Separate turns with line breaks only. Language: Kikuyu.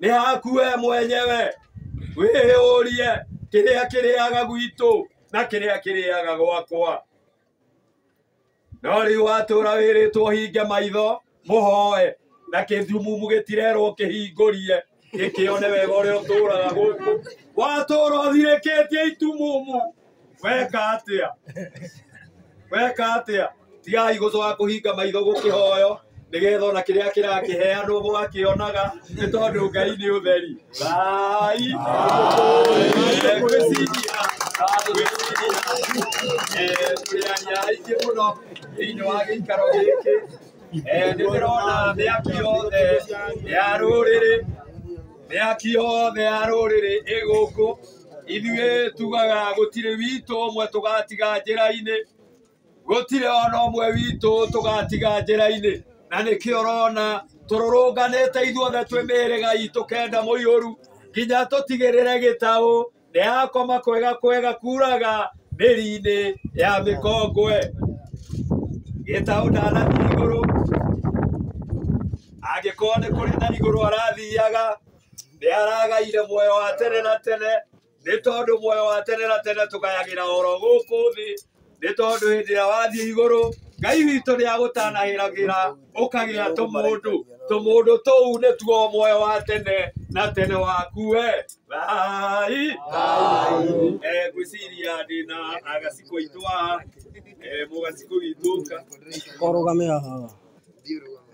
nĩ haku we mwenyewe wĩyũrie kĩrĩa kĩrĩaga gwitũ na kĩrĩa kĩrĩaga gwakwa no rĩu watũra wĩrĩtwo hinge maitho mũhoe na kĩthumumu gĩtirerwo kĩhingũrie gĩkĩone wega ũrĩa ũtũraga gũkũ watũra ũthirĩkĩtie itumumu weka atia weka atia tigai gucoka kuhinga maitho gukihoyo nigetha ona kiria kirakiheanwo gwakionaga ni tondu ngai ni utheri thai turiaria aingĩ mũno thĩinĩ wa gĩikaro gĩkĩ nĩ ndĩrona mĩaki yothe ya rũrĩrĩ mĩaki yothe ya rũrĩrĩ ĩgũkũ ithuĩ tugaga gũtirĩ witũ ũmwe tũgatiga njĩra-inĩ gũtirĩ ona ũmwe witũ tũgatiga njĩra-inĩ na nĩkĩo ũrona tũrũrũnganĩte ithuothe twĩ mĩhĩrĩga itũ kenda mũiyũru nginya tũtigĩrĩre gĩtaũ ndĩrakoma kwega kwega kuraga mĩri-inĩ ya mĩkongwe gĩtaũ ndanathiĩ igũrũ angĩkorwo nĩ kũrĩ na igũrũ arathiaga nĩ aragaire muoyo wa tene na tene nĩ tondũ muoyo wa tene na tene tũgayagĩra oro gũkũ thĩ nĩ tondũ hĩndĩ ĩrĩa wathiĩ igũrũ ngai witũ nĩ agũtanahĩragĩra ũkagĩa tũmũndũ tũmũndũ tũu nĩ tuo muoyo wa tene na tene waku we thai Eh, ngwĩciria ndĩ na agaciko itũ haha Eh, mũgaciko witũ ũka kũrũgamĩra haha